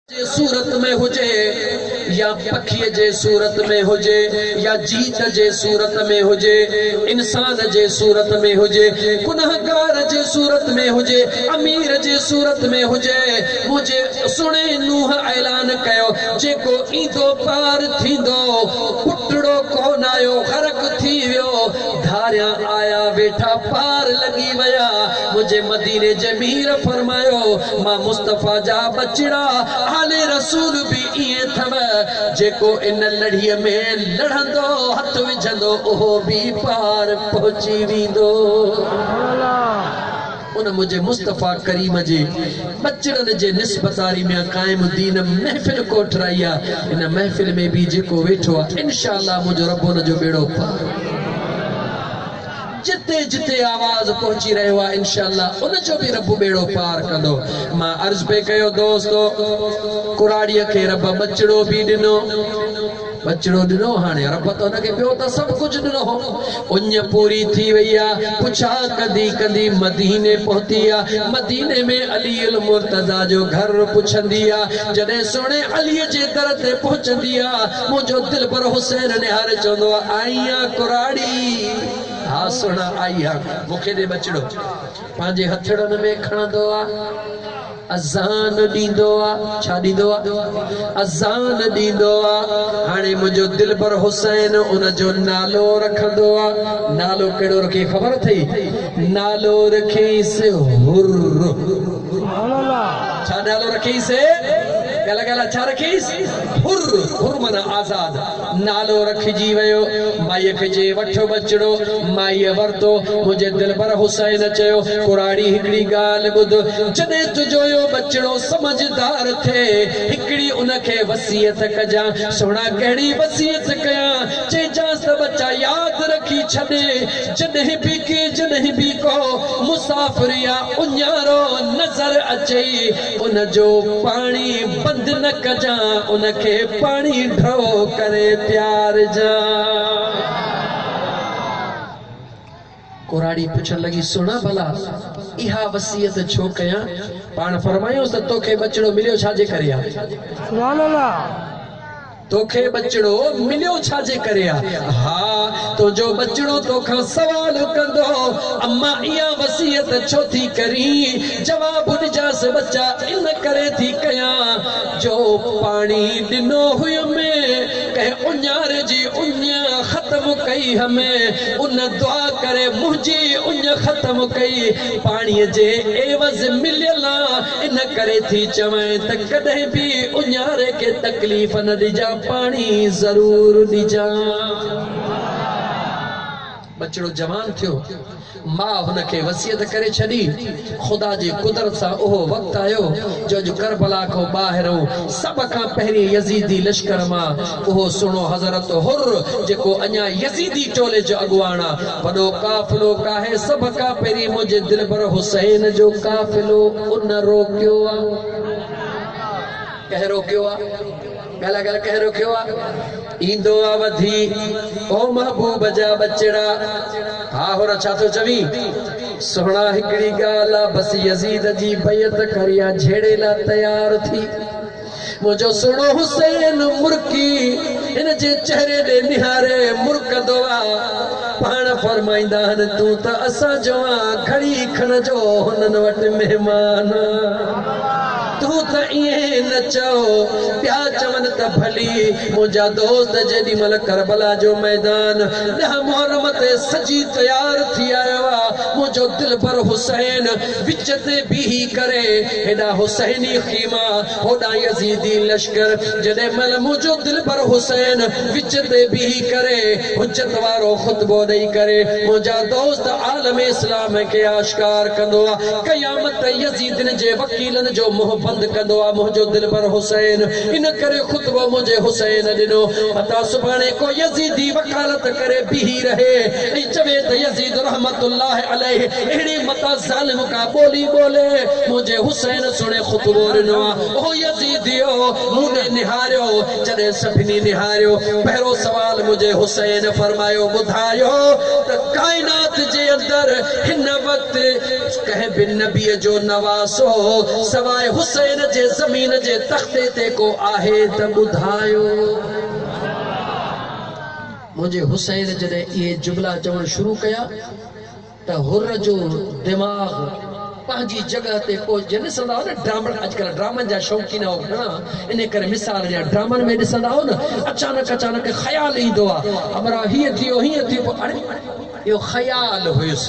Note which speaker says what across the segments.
Speaker 1: جي صورت ۾ هجي يا پکيء جي صورت ۾ هجي يا جيت جي صورت ۾ هجي انسان جي صورت ۾ هجي گنهگار جي صورت ۾ هجي امير جي صورت ۾ هجي منهنجي سهڻي نوح اعلان ڪيو جيڪو ايندو پار ٿيندو پٽڙو ڪونه آيو غرق ٿي ويو ڌاريان آيا ويٺا پار لڳي ويا منهنجي مديني جي مير فرمايو مان مصطفيٰ جا ٻچڙا آل رسول به ائين اٿم جيڪو ان لڙهي ۾ لڙهندو هٿ وجهندو اهو به پار پهچي ويندو. ان منهنجي مصطفيٰ ڪريم جي ٻچڙن جي نسبتاري ميان قائم الدين محفل ڪوٺرائي آ ان محفل ۾ به جيڪو ويٺو آ انشاء الله منهنجو رب ان جو ٻيڙو پار. جتي جتي آواز پهچي رهيو آ انشاء الله ان جو به رب ٻيڙو پار ڪندو مان عرض پئي ڪيو دوستو ڪراڙيء کي رب ٻچڙو به ڏنو ٻچڙو ڏنو هاڻي رب ته ان کي ٻيو ته سڀ ڪجهه ڏنو هو اڃ پوري ٿي وئي آ پڇا ڪندي ڪندي مديني پهتي آ مديني ۾ علي المرتضيٰ جو گهر پڇندي آ جڏهن سهڻي علي جي در تي پهچندي آ منهنجو دلبر حسين نهاري چوندو آ آئين آ ڪراڙي ها سهڻا آئي ها مون کي ڏي ٻچڙو پنهنجي هٿڙن ۾ کڻندو آ اذان ڏيندو آ ڇا ڏيندو آ اذان ڏيندو آ هاڻي منهنجو دلبر حسين ان جو نالو رکندو آ نالو ڪهڙو رکي خبر اٿئي نالو رکيس هر سبحان الله ڇا نالو رکيس ڳالا ڳالا ڇا رکيس هر هر منا آزاد نالو رکجي ويو. مائيء کي چئي وٺ ٻچڙو. مائيء ورتو. منهنجي دلبر حسين چيو، ڪراڙي هڪڙي ڳالهه ٻڌ. جڏهن تنهنجو اهو ٻچڙو سمجهدار ٿئي، هڪڙي ان کي وصيت ڪجان. سهڻا ڪهڙي وصيت ڪيان؟ چئجانس ته ٻچا ياد رکي ڇڏ، جڏهن به ڪنهن جڏهن به ڪو مسافر يا اڃارو نظر اچئي، ان جو پاڻي بند نه ڪجان، ان کي پاڻي ڍؤ ڪري پيارجان. ڪراڙي پڇڻ لڳي، سهڻا ڀلا اها وصيت ڇو ڪيان؟ پاڻ فرمايائونس ته توکي ٻچڙو مليو ڇا جي ڪري آ؟ توکي ٻچڙو مليو ڇا جي ڪري آ؟ ها، تنهنجو ٻچڙو توکان سوال ڪندو، اما اها وصيت ڇو ٿي ڪرين؟ جواب ڏجانس، ٻچا ان ڪري ٿي ڪيان جو پاڻي ڏنو هيم، ڪنهن اڃار جي اڃ ختم ڪئي هيم، ان دعا ڪري منهنجي اڃ ختم ڪئي، پاڻي جي عيوض مليل آ، ان ڪري ٿي چوين ته ڪڏهن به اڃاري کي تڪليف نه ڏجان پاڻي ضرور ڏجان. ٻچڙو جوان ٿيو. ماء هن کي وصيت ڪري ڇڏي. خدا جي قدرت سان اهو وقت آيو جو اڄ ڪربلا کان ٻاهرئون سڀ کان پهرين يزيدي لشڪر مان اهو سهڻو حضرت حر جيڪو اڃا يزيدي ٽولي جو اڳواڻ آ. وڏو قافلو ڪاهي سڀ کان پهرين منهنجي دلبر حسين جو قافلو ان روڪيو آ. ڪنهن روڪيو آ؟ ڳالهاء ڳالهه ڪنهن روڪيو آ؟ ايندو آ وڌي او محبوب جا ٻچڙا. ها حر ڇا ٿو چوين؟ سهڻا هڪڙي ڳالهه آ بس يزيد جي بيعت ڪريان جهيڙي لا تيار ٿي. منهنجو سهڻو حسين مرڪي هن جي چهري ڏي نهاري مرڪندو آ. پاڻ فرمائيندا هن تون ته اسان جوان گهڙي کن جو هنن وٽ مهمان آ. تون ته ائين نه چئو. ٻيا چون ته ڀلي منهنجا دوست جيڏي مهل ڪربلا جو ميدان ڏهه محرم تي سجي تيار ٿي آيو آ منهنجو دلبر حسين وچ تي بيهي ڪري هيڏانهن حسيني خيما هوڏانهن يزيدي لشڪر جڏهن مئل منهنجو دلبر حسين وچ تي بيهي ڪري حجت وارو خطبو ڏئي ڪري منهنجا دوست عالم اسلام کي آشڪار ڪندو آ قيامت تائين يزيدين جي وڪيلن جو منهن بند ڪندو آ منهنجو دلبر حسين ان ڪري خطبو منهنجي حسين ڏنو متان سڀاڻي ڪو يزيدي وڪالت ڪري بيهي رهي ۽ چوي ته يزيد رحمة الله عليه اهڙي متان ظالم ڪا ٻولي ٻولي، منهنجي حسين سڻي خطبو ڏنو آ. او يزيديو! مون ڏي نهاريو، جڏهن سڀني نهاريو، پهريون سوال منهنجي حسين فرمايو، ٻڌايو ته ڪائنات جي اندر هن وقت ڪنهن به نبيء جو نواسو سواء حسين جي زمين جي تختي تي ڪو آهي ته ٻڌايو؟ منهنجي حسين جڏهن اهي جملا چوڻ شروع ڪيا. ته حر جو دماغ پنهنجي جڳهه تي ڪو جيئن ڏسندا هئو نه ڊرامن اڄڪلهه ڊرامن جا شوقين هئو گهڻا انهي ڪري مثال جيئن ڊرامن ۾ ڏسندا هئو نه اچانڪ اچانڪ خيال ايندو آ همراهه هيئن ٿيو هيئن ٿيو پوء اڙي اهو خيال هيس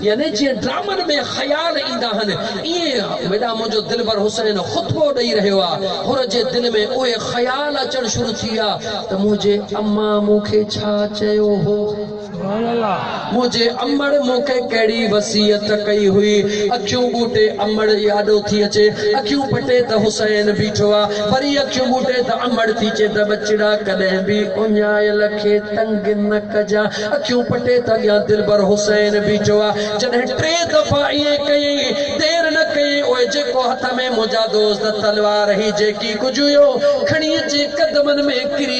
Speaker 1: يعني جيئن ڊرامن ۾ خيال ايندا آهن ايئن هيڏانهن منهنجو دلبر حسين خطبو ڏئي رهيو آ حر جي دل ۾ اهي خيال اچڻ شروع ٿي ويا ته منهنجي امان مون کي ڇا چيو هو. منهنجي امڙ مونکي ڪهڙي وصيت ڪئي هئي. اکيون ٻوٽي امڙ ئي آڏو ٿي اچي. اکيون پٽي ته حسين بيٺو آ. وري اکيون ٻوٽي ته امڙ ٿي چي ته ٻچڙا ڪڏهن به اڃايل کي تنگ نه ڪجان. اکيون پٽي ته اڳيان دلبر حسين بيٺو آ. جڏهن ٽي دفعا ائين ڪيئي. دير نه ڪيئي اهي جيڪو هٿ ۾ منهنجا دوست تلوار هي جيڪي ڪجهه هيو کڻي اچي قدمن ۾ ڪري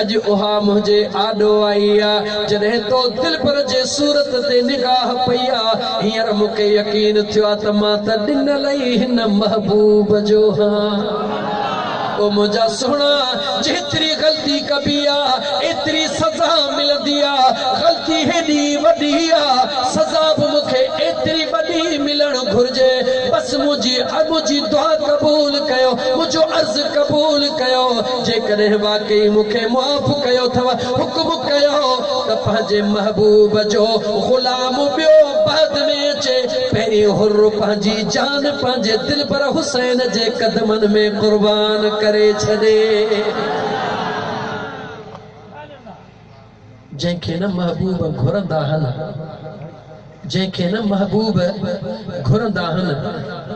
Speaker 1: اڄ اها منهنجي آڏو آئي آ، جڏهن تو دلبر جي صورت تي نگاهه پئي آ، هينئر مون کي يقين ٿيو آ ته مان ته ڏنل ئي هن محبوب جو هان. او منهنجا سهڻا، جيتري غلطي ڪبي آ، ايتري سزا ملندي آ، غلطي هيڏي وڏي آ، سزا به مون کي ايتري وڏي ملڻ گهرجي، بس منهنجي منهنجي دعا قبول ڪيو، منهنجو عرض قبول ڪيو. جيڪڏهن واقعي مون کي معاف ڪيو اٿو، حڪم ڪيو ته پنهنجي محبوب جو غلام ٻيو بعد ۾ اچي، پهرين حر پنهنجي جان پنهنجي دلبر حسين جي قدمن ۾ قربان ڪري ڇڏي. جنهن کي نه محبوب گهرندا هن جنهن کي نه محبوب گهرندا هن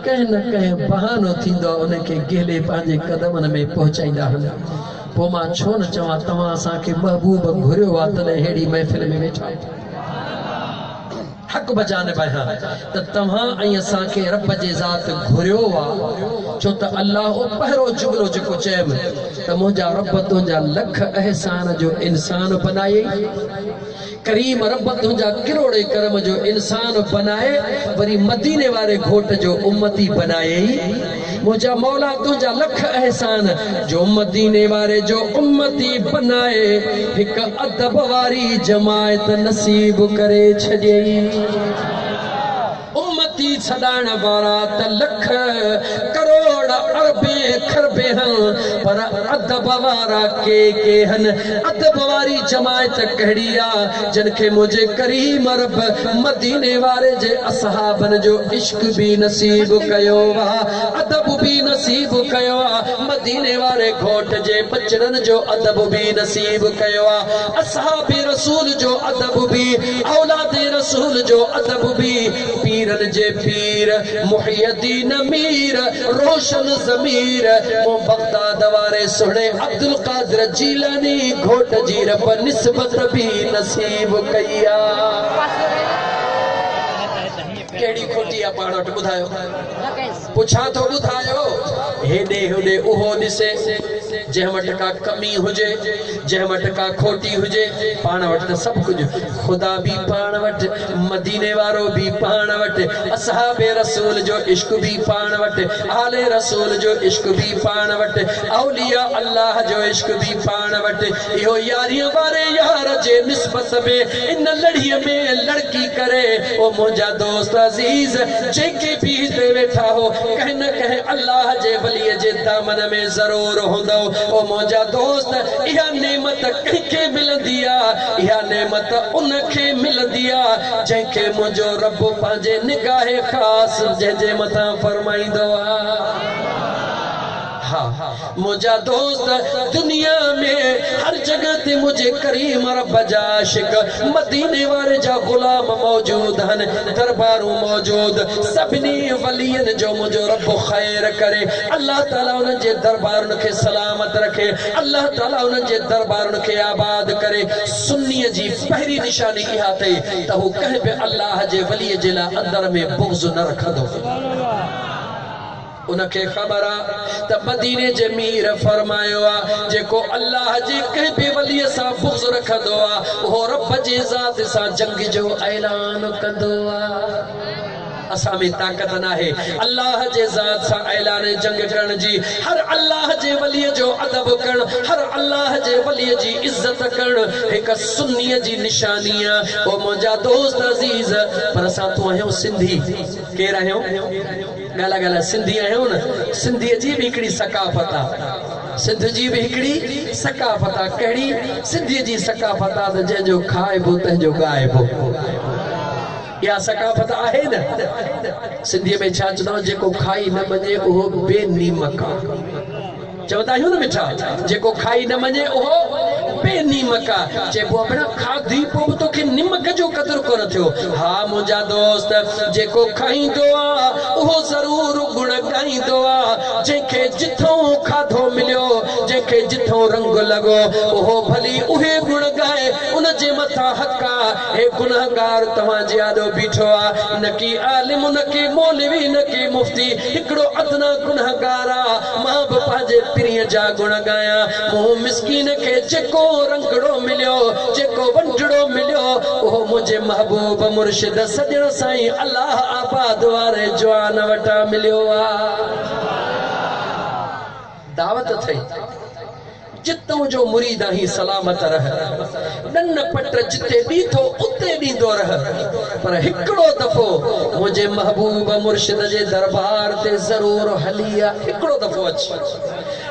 Speaker 1: ڪنهن نه ڪنهن بهانو ٿيندو ان کي گهلي پنهنجي قدمن ۾ پهچائيندا هن پوء مان ڇو نه چوان توهان اسان کي محبوب گهريو آهي تڏهن ههڙي محفل ۾ ويٺا حق بجانب آهيان ته توهان ۽ اسان کي رب جي ذات گهريو آ ڇو ته الله اهو پهرو جملو جيڪو چيم ته منهنجا رب تنهنجا لک احسان جو انسان بنائي ڪريم رب تنهنجا ڪروڙي ڪرم جو انسان بنائي وري مديني واري گهوٽ جو امتي بنائي منهنجا مولا تنهنجا لک احسان جو مديني واري جو امتي بنائي هڪ ادب واري جماعت نصيب ڪري ڇڏيئي امتي سڏائڻ وارا ته لک ڪروڙ اربين کربين هن پر ادب وارا ڪي ڪي هن ادب واري جماعت ڪهڙي آ جن کي منهنجي ڪريم رب مديني واري جي اصحابن جو عشق به نصيب ڪيو آ ادب به نصيب ڪيو آ مديني واري گهوٽ جي ٻچڙن جو ادب به نصيب ڪيو آ اصحاب رسول جو ادب به اولاد رسول جو ادب به پيرن جي پير محي الدين مير روشن ضمير مون بغداد واري سهڻي عبدالقادر جيلاني گهوٽ جي رب نسبت به نصيب ڪئي آ. ڪهڙي کوٽي آ پاڻ وٽ ٻڌايو. پڇان ٿو ٻڌايو. هيڏي هوڏي اهو ڏسي جنهن وٽ ڪا ڪمي هجي جنهن وٽ ڪا کوٽي هجي پاڻ وٽ ته سڀ ڪجهه خدا به پاڻ وٽ مديني وارو به پاڻ وٽ اصحاب رسول جو عشق به پاڻ وٽ آل رسول جو عشق به پاڻ وٽ اولياء الله جو عشق به پاڻ وٽ اهو ياريء واري يار جي نسبت ۾ ان لڙهيء ۾ لڙڪي ڪري، او منهنجا دوست عزيز! جيڪي به هتي ويٺا هو، ڪنهن نه ڪنهن الله جي وليء جي دامن ۾ ضرور هوندؤ. او منهنجا دوست! اها نعمت ڪنهن کي ملندي آ؟ اها نعمت ان کي ملندي آ، جنهن کي منهنجو رب پنهنجي نگاهه خاص جنهن جي مٿان فرمائيندو آ. ها منهنجا دوست دنيا ۾ هر جڳهه تي منهنجي ڪريم رب جا عاشق مديني واري جا غلام موجود هن دربارون موجود سڀني ولين جو منهنجو رب خير ڪري الله تعالي انهن جي دربارن کي سلامت رکي الله تعالي انهن جي دربارن کي آباد ڪري سني جي پهرين نشاني اها اٿئي ته هو ڪنهن به الله جي ولي جي لاء اندر ۾ بغض نه رکندو ان کي خبر آ ته مديني جي مير فرمايو آ جيڪو الله جي ڪنهن به ولي سان بغض رکندو آ اهو رب جي ذات سان جنگ جو اعلان ڪندو آ اسان ۾ طاقت ناهي الله جي ذات سان اعلان جنگ ڪرڻ جي هر الله جي ولي جو ادب ڪرڻ هر الله جي ولي جي عزت ڪرڻ هڪ سني جي نشاني آ او منهنجا دوست عزيز پر اسان تون آهيون سنڌي ڪير آهيون ڳالهاء ڳالهاء سنڌي آهيون نه سنڌي جي به هڪڙي ثقافت آ سنڌ جي به هڪڙي ثقافت آ ڪهڙي سنڌي جي ثقافت آ ته جنهن جو کائبو تنهن جو ڳائبو اها ثقافت آهي نه سنڌي ۾ ڇا چوندو جيڪو کائي نه مڃي اهو بي نيمڪ آ چوندا آهيون نه مٺا، جيڪو کائي نه مڃي اهو بي نيمڪ آ. چئبو آ ڀيڻا کاڌي پوء به توکي نمڪ جو قدر ڪونه ٿيو. ها منهنجا دوست، جيڪو کائيندو آ اهو ضرور گڻ ڳائيندو آ. جنهن کي جتھئون کاڌو مليو، جنهن کي جتھئون رنگ لڳو اهو ڀلي اهي گڻ ڳائي، ان جي مٿان حق آ. هي گنهگار توهان جي آڏو بيٺو آ. نه ڪي عالم، نه ڪي مولوي، نه ڪي مفتي، هڪڙو ادنيٰ گنهگار آ. مان به پنهنجي پرينء جا گڻ ڳايان، مون مسڪين کي جيڪو رنگڙو مليو، جيڪو ونڊڙو مليو، اهو منهنجي محبوب مرشد سڄڻ سائين الله آباد واري جوان وٽان مليو آ. دعوت اٿئي. جتون جو مريد آهين سلامت رهه ڏن پٽ جتي ڏيٿو اتي ڏيندو رهه پر هڪڙو دفعو منهنجي محبوب مرشد جي دربار تي ضرور هلي آ هڪڙو دفعو اچ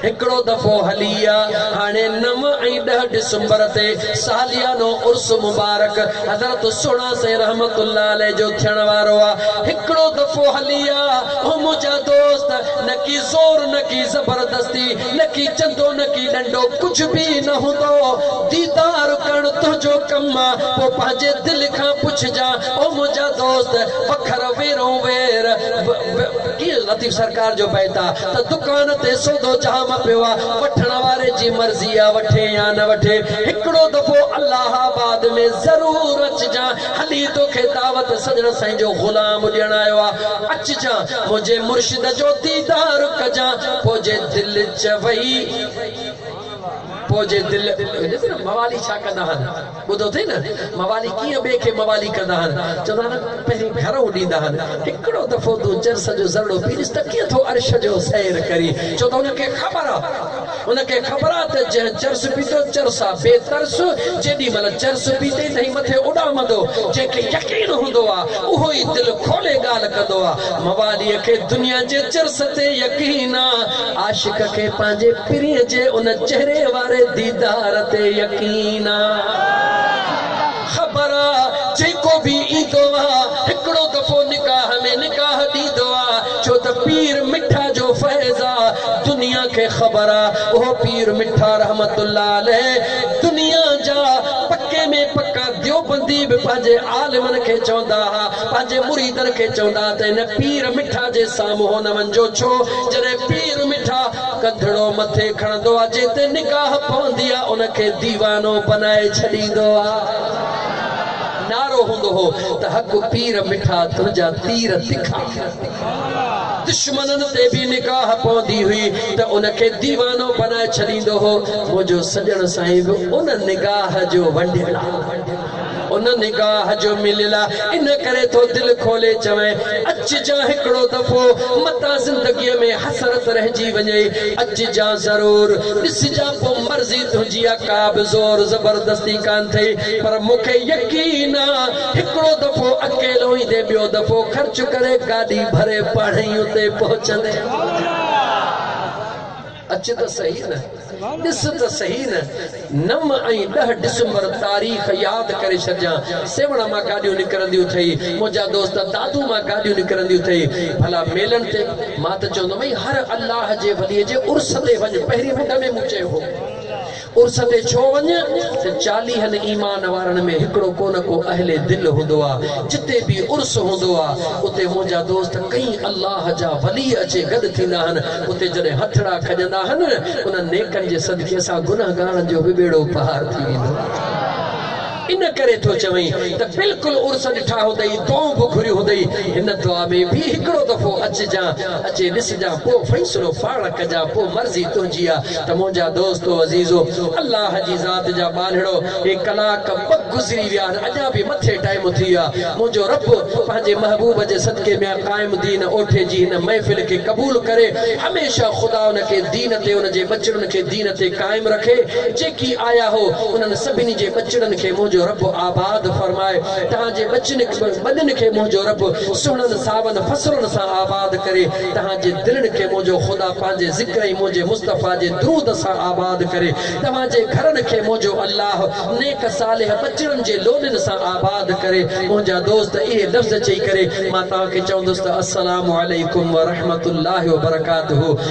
Speaker 1: هڪڙو دفعو هلي آ هاڻي نو ۽ ڏهه ڊسمبر تي ساليانو عرس مبارڪ حضرت سهڻا سائين رحمت الله عليه جو ٿيڻ وارو آ هڪڙو دفعو هلي آ او منهنجا دوست نه ڪي زور نه ڪي زبردستي نڪي چندو نڪي ڏنڊو ڪجھ به نه هوندو ديدار ڪرڻ تنهنجو ڪم پوء پنهنجي دل کان پڇجان او منهنجا دوست وکر ويرون وير ڪيئن لطيف سرڪار جو بيت آ ته دڪان تي سودو جام پيو آ وٺڻ واري جي مرضي آ وٺي يا نه وٺي هڪڙو دفعو الله آباد ۾ ضرور اچجان هلي توکي دعوت سڄڻ سائين جو غلام ڏيڻ آيو آ اچجان منهنجي مرشد جو ديدار ڪجان پوء جي دل چوي پوء جي دل ڏس نه موالي ڇا ڪندا هن ٻڌو اٿئي نه موالي ڪيئن ٻئي کي موالي ڪندا هن چوندا هن پهرين گهرئون ڏيندا هن هڪڙو دفعو تون چرس جو ذرڙو پي ڏس ته ڪيئن ٿو عرش جو سير ڪرين ڇو ته هن کي خبر آ ان کي خبر آ ته جنهن چرس پيتو چرس آ بي ترس جيڏي مھل چرس پيتي تنهن مٿي اڏامندو جنهن کي يقين هوندو آ اهو ئي دل کولي ڳالھ ڪندو آ موالي کي دنيا جي چرس تي يقين آ عاشق کي پنهنجي پرينء جي ان چهري واري ديدار تي يقين آ. خبر آ جيڪو به ايندو آ هڪڙو دفعو نڪاح ۾ نڪاح ڏيندو آ ڇو ته پير مٺا جو فيض آ دنيا کي خبر آ اهو پير مٺا رحمت الله عليه دنيا جا پڪي ۾ پڪا ديوبندي به پنهنجي عالمن کي چوندا ها پنهنجي مريدن کي چوندا ها ته هن پير مٺا جي سامهون نه وڃجو ڇو جڏهن پير مٺا ڪنڌڙو مٿي کڻندو آ جنهن تي نگاهه پوندي آ ان کي ديوانو بنائي ڇڏيندو آ. نعرو هوندو هو ته حق پير مٺا تنهنجا تير تکا. دشمنن تي به نگاهه پوندي هئي ته ان کي ديوانو بنائي ڇڏيندو هو. منهنجو سڄڻ سائين به ان نگاهه جو ونڊيل آ. ان نگاهه جو مليل آ، ان ڪري ٿو دل کولي چوين، اچ جان هڪڙو دفعو، متان زندگيء ۾ حسرت رهجي وڃئي، اچ جان ضرور، ڏس جان پوء مرضي تنهنجي آ، ڪا به زور زبردستي ڪانه ٿئي، پر مون کي يقين آ، هڪڙو دفعو اڪيلو ايندين، ٻيو دفعو خرچ ڪري گاڏي ڀري پاڻهئي اتي پهچندين. اچ ته سهي نه، ڏس ته سهي نه، نو ۽ ڏهه ڊسمبر تاريخ ياد ڪري ڇڏجان، سيوهڻ مان گاڏيون نڪرنديون اٿئي، منهنجا دوست دادو مان گاڏيون نڪرنديون اٿئي، ڀلا ميلن تي؟ مان ته چوندم اي هر الله جي ولي جي عرس تي وڃ، پهرين مڍ ۾ مون چيو هو. عرس تي ڇو وڃ، تن چاليهن ايمان وارن ۾ هڪڙو ڪو نه ڪو اهل دل هوندو آ، جتي به عرس هوندو آ، اتي منهنجا دوست ڪئين الله جا ولي اچي گڏ ٿيندا آهن، اتي جڏهن هٿڙا کڄندا آهن نه، انهن نيڪن جي صدقي اسان گنهگارن جو به ٻيڙو پار ٿي ويندو آ. ان ڪري ٿو چوين ته بلڪل عرس ڏٺا هوندئي، دعائون به گهريون هوندئي، هن دعا ۾ به هڪڙو دفعو اچجان، اچي ڏسجان، پوء فيصلو پاڻ ڪجان، پوء مرضي تنهنجي آ ته منهنجا دوستو عزيزو، الله جي ذات جا ٻالهڙو، هي ڪلاڪ ٻه گذري ويا آهن، اڃا به مٿي ٽائيم ٿي ويو آ، منهنجو رب پنهنجي محبوب جي صدقي ميان قائم دين اوٺي جي هن محفل کي قبول ڪري، هميشه خدا ان کي دين تي ان جي ٻچڙن کي دين. دين تي قائم رکي جيڪي آيا هو انهن سڀني جي ٻچڙن کي منهنجو رب آباد فرمائي توهان جي ٻچن ٻڏن کي منهنجو رب سهڻن ساون فصلن سان آباد ڪري توهان جي دلن کي منهنجو خدا پنهنجي ذڪر ۽ منهنجي مصطفيٰ جي درود سان آباد ڪري توهان جي گهرن کي منهنجو الله نيڪ صالح ٻچڙن جي لوڏين سان آباد ڪري منهنجا دوست اهي لفظ چئي ڪري مان توهان کي چوندس ته السلام عليڪم ورحمة الله وبرڪاته